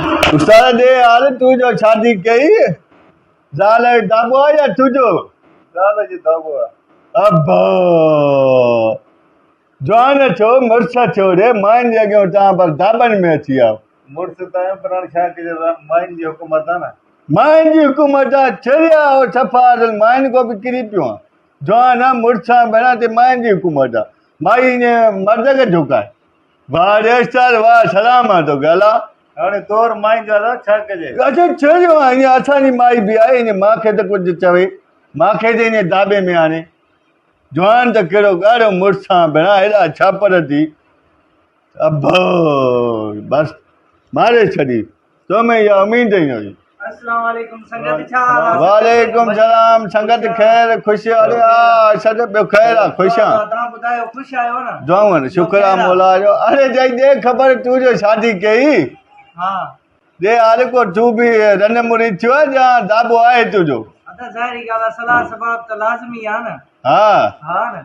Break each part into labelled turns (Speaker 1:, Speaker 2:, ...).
Speaker 1: استاد ڏي حال تو جو شادي ڪئي زال جو داٻو آ يا تنهنجو زال جو داٻو آ.
Speaker 2: ابا!
Speaker 1: جوان ٿيو مڙس ٿيو ري ماين جي اڳيون تان پر داٻن ۾ اچي آئو. مڙس ته آهيون پر
Speaker 2: هاڻي ڇا ڪجي ماين جي حڪومت آ نه. ماين جي حڪومت
Speaker 1: آ چريا آهو صفا اصل ماين کان به ڪري پيو آن جوان آن مڙس آن ڀيڻا تي ماين جي حڪومت آ مائي ائين مرد کي جهڪائي. واهه ريش چال واهه سلام آهن تو گالا. هاڻي طور
Speaker 2: مائي گالا ڇا ڪجي. اڇو ڇو جو آهن
Speaker 1: اڃا اسان جي مائي به آهي اڃا مان کي ته ڪجهه چوي مان کي ته اڃا داٻي ۾ آڻي جوان ته ڪهڙو ڳاڙهو مڙس سان ڀيڻا هيڏا ڇاپر ٿي ابهه بس ماري ڇڏي. ته ۾ يا امين جي آهي. اسلام عليڪم
Speaker 3: سنگت ڇا حال آ. وعليڪم
Speaker 1: سلام سنگت خير خوش اري آ ارشد ٻيو خير آ خوش آ توهان ٻڌايو
Speaker 3: خوش آهيو نه دعائون شڪر آ مولا
Speaker 1: جو اري جئي ڏي خبر تو جو شادي ڪئي ها
Speaker 3: ڏي هر
Speaker 1: ڪو تو به رن مري ٿيو جا دابو آهي تو جو ادا ظاهري ڳالهه آ صلاح سباب ته لازمي آ
Speaker 3: نه ها ها نه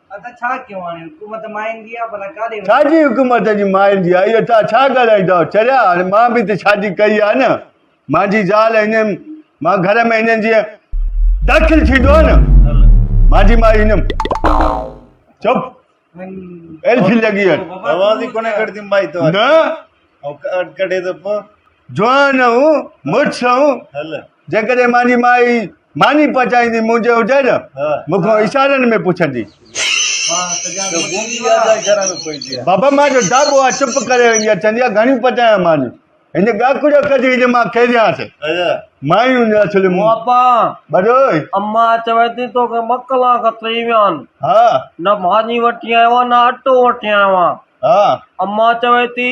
Speaker 3: ڇاجي حڪومت جي
Speaker 1: مائيندي آ اهي تان ڇا ڳالهائينداو چريا هاڻي مان به ته شادي ڪئي آ نه مانجي زال هنن مان گهر ۾ هنن جي داخل ٿيندو آ نه مانجي مائي هنن چپ ايلفي لڳي هن
Speaker 2: نه ڪڏهي ته پو جوانئون
Speaker 1: مڙسئون، جيڪڏهن
Speaker 2: مانجي
Speaker 1: مائي ماني پچائيندي منهنجي هجئي نه، مون کان اشارن
Speaker 2: ۾
Speaker 1: پڇندي.
Speaker 2: بابا مان جو ڊاٻو آ،
Speaker 1: چپ ڪري ويندي آ، چوندي آ گهڻيون پچايان ماني، هن ڳاکڙيو ڪڍي هجي مان کيڏيانس.
Speaker 2: مائيون نسلون.
Speaker 1: بابا!
Speaker 4: ٻڏوهي!
Speaker 1: اما چوي
Speaker 4: ٿي تو کي ٻه ڪلاڪ ٿي ويا آهن. ها! نه
Speaker 1: ماني
Speaker 4: وٺي آيو آهيان نه اٽو وٺي آيو آهيان. ها! اما
Speaker 1: چوي
Speaker 4: ٿي.